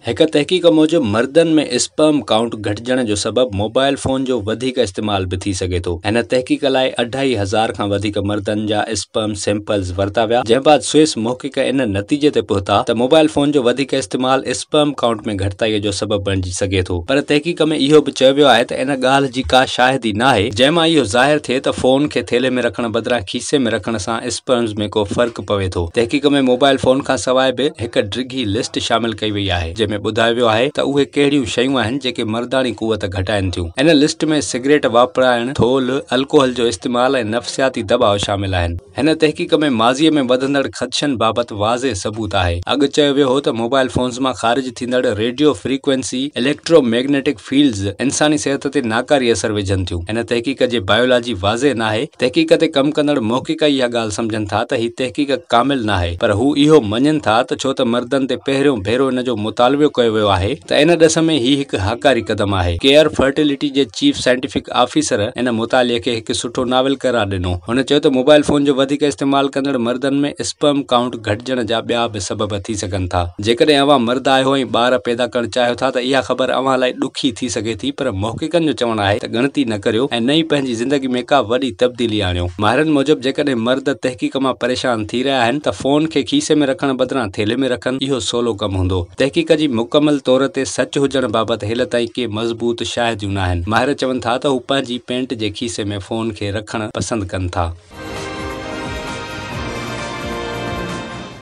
هڪ تحقيق موجب مردن ۾ اسپرم ڪائونٽ گهٽجڻ جو سبب موبائل فون جو وڌيڪ استعمال به ٿي سگهي ٿو. هن تحقيق لاء اڍائي هزار کان وڌيڪ مردن جا اسپرم سيمپلز ورتا ويا، جنهن بعد سوئس محقق ان نتيجي تي پهتا ته موبائل فون جو وڌيڪ استعمال اسپرم ڪائونٽ ۾ گهٽتائي جو سبب بڻجي سگهي ٿو. پر تحقيق ۾ اهو به چيو ويو آهي ته ان ڳالهه جي ڪا شاهدي ناهي، جنهن مان اهو ظاهر ٿئي ته فون کي ٿيلهي ۾ رکڻ بدران کيسي ۾ رکڻ سان پوائنٽس ۾ ڪو فرق پوي ٿو. تحقيق ۾ موبائل فون کان سواء به هڪ ڊگهي لسٽ شامل ڪئي وئي آهي جنهن ۾ ٻڌايو ويو آهي ته اهي ڪهڙيون شيون آهن جيڪي مرداڻي قوت گهٽائين ٿيون. ان لسٽ ۾ سگريٽ واپرائڻ، ٿولهه، الڪوحل جو استعمال ۽ نفسياتي دٻاء شامل آهن. هن تحقيق ۾ ماضي ۾ وڌندڙ خدشن بابت واضح ثبوت آهي. اڳ چيو ويو هو ته موبائل فونز مان خارج ٿيندڙ radio frequency electromagnetic fields انساني صحت تي ناڪاري اثر وجهن ٿيون. هن تحقيق جي بائيولاجي واضح ناهي. تحقيق تي ڪم ڪندڙ محقق اها ڳالهه سمجهن ٿا ته هي تحقيق ڪامل ناهي پر هو اهو مڃين ٿا ته ڇو ته مردن تي پهريون ڀيرو ان جو مطالويو ڪيو ويو آهي ته ان ڏس ۾ هي هڪ هاڪاري قدم آهي. ڪيئر فرٽيلٽي جي چيف سائنٽيفڪ آفيسر ان مطالعي کي هڪ سٺو ناول قرار ڏنو. هن چيو ته موبائل فون جو وڌيڪ استعمال ڪندڙ مردن ۾ اسپرم ڪائونٽ گهٽجڻ جا ٻيا به سبب ٿي سگهن ٿا. جيڪڏهن اوهان مرد آهيو ۽ ٻار پيدا ڪرڻ چاهيو ٿا ته اها خبر اوهان لاء ڏکي ٿي سگهي ٿي پر محققن جو چوڻ آهي ته ڳڻتي نه ڪريو ۽ نه ئي پنهنجي زندگي ۾ ڪا وڏي تبديلي آڻيو. ماهرن موجب جيڪڏهن مرد تحقيق مان پريشان ٿي رهيا آهن ته فون کي کيسي ۾ رکڻ بدران ٿيلهي ۾ رکن اهو سولو ڪم هوندو. تحقيق جي مڪمل طور تي سچ هجڻ بابت هيل تائين ڪي مضبوط شاهديون ناهن. ماهر چون ٿا ته هو پنهنجي پينٽ جي کيسي ۾ فون کي رکڻ پسند ڪن ٿا.